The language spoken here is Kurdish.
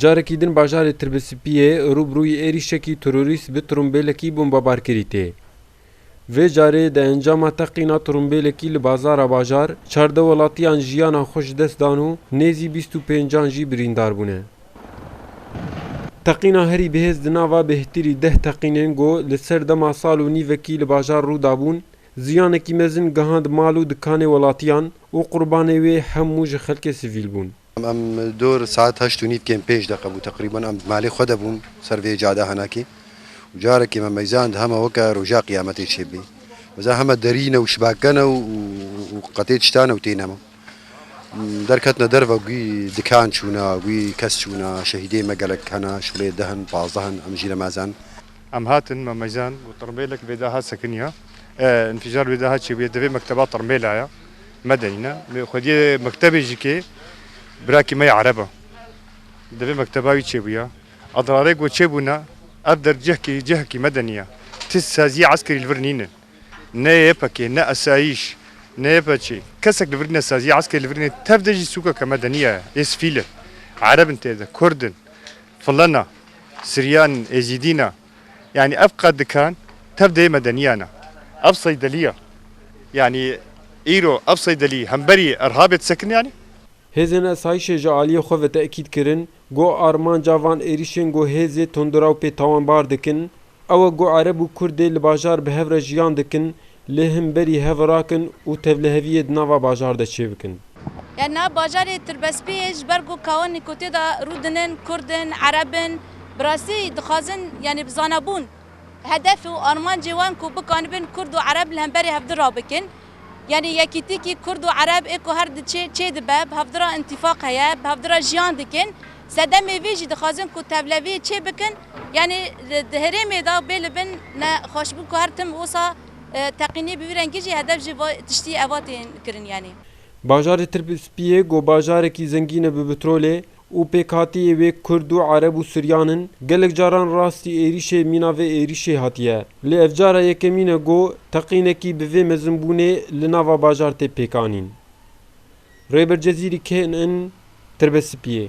Carekî din bajarê Tirbisipiyê rû bi rûyî êrîşekî terorîst bi tirûmbêlekî bombebar kirî tê. Vê carê di encama teqîna tirûmbêlekî li bazara bajar çardeh welatiyan jiyanan xwe ji dest dan û nêzî bîst û pêncan jî birîndar bûne. Teqîna herî bihêz di nava bêhtirî deh teqînên ku li ser dema sal û nîvekî li bajar rû dabûn, Ziyanekî mezin gihand mal û dikanê welatiyan û qurbanê wê hemû ji xelkê sivîl bûn. Em dor saet heşt û nîv kêm pênc deqe bû teqrîban em di malê xwe de bûn ser vê cada henakê û carekê me meyzan di heme weke roja qiyametê çê bibê. Mezan heme derî ne û şibake ne û qetê tişta ne û tê nema. Derketine derve gûî dikan çûna, gûî kes çûna, şehîdê me gelek hene, şulê deh in, pazdeh in, em jî ne mezan. Em hatin memejan û tirmêlek bê daha sekiniya. E înfijar bê daha çêbûye divê mekteba tirmêla ya me de îne. Mê xwediyê mektebê jî kê birakî me ya ereb e. Divê mekteba wî çêbûya. Adrarê ku çêbûna ev der cihkî cihekî me de nîya. Ti saziyê eskerî li vir nînin. Ne YPG ne esayîş ne YPÇ kesek li vir nîne saziyê eskerî li vir nîne. Tev de jî sûkeke me de nîya. Ê sivîl in. Ereb in tê de, kurd in, filena. Siryan, Êzîdî ne. Yanî ev qad dikan tev dê medeniya ne. Ev seydelî ye. Yanî îro ev seydelî hemberî Irhabê disekin yanî? Hêzên Esayîşê ji aliyê xwe ve tekîd kirin, ku armanca van êrîşên ku hêzê tunduraw pê tawanbar dikin, Ewa ku Ereb û Kurdê li bajar bi hev re jiyan dikin lê him berî hev rakin û tevliheviyê di nava bajar de çêbikin. Ya nav bajarê Tirbespiyê ji ber ku kawan ku tê de rûdin in Kurd in, Ereb in, bi rastî dixwazin yanî bi zanabûn hedef û armancê wan ku bikanibin Kurd û Ereb li hemberî hevdî rabikin. Yanî yekîtîkî kurd û ereb ê ku her di çê çê dibe, bi hevdira întîfaq heye, bi hevdira jiyan dikin. Sedemê vê jî dixwazin ku tevleviyê çê bikin. Yanî di herêmê de bê li bin ne xweşbûn ku her tim wisa teqînî bi wî rengî jî hedef ji vê tiştî eva tên kirin yanî. Bajarê Tirkspiyê ku bajarekî zengîn e bi pitrolê, Û pêkhatiyê wê kurd û ereb û suryan in, gelek caran rastî êrîşê mîna vê êrîşê hatiye. Lê ev cara yekemîn e ku teqînekî bi vê mezinbûnê li nava bajar tê pêkanîn. Rêber Cezîrî kê in in Tirbespiyê?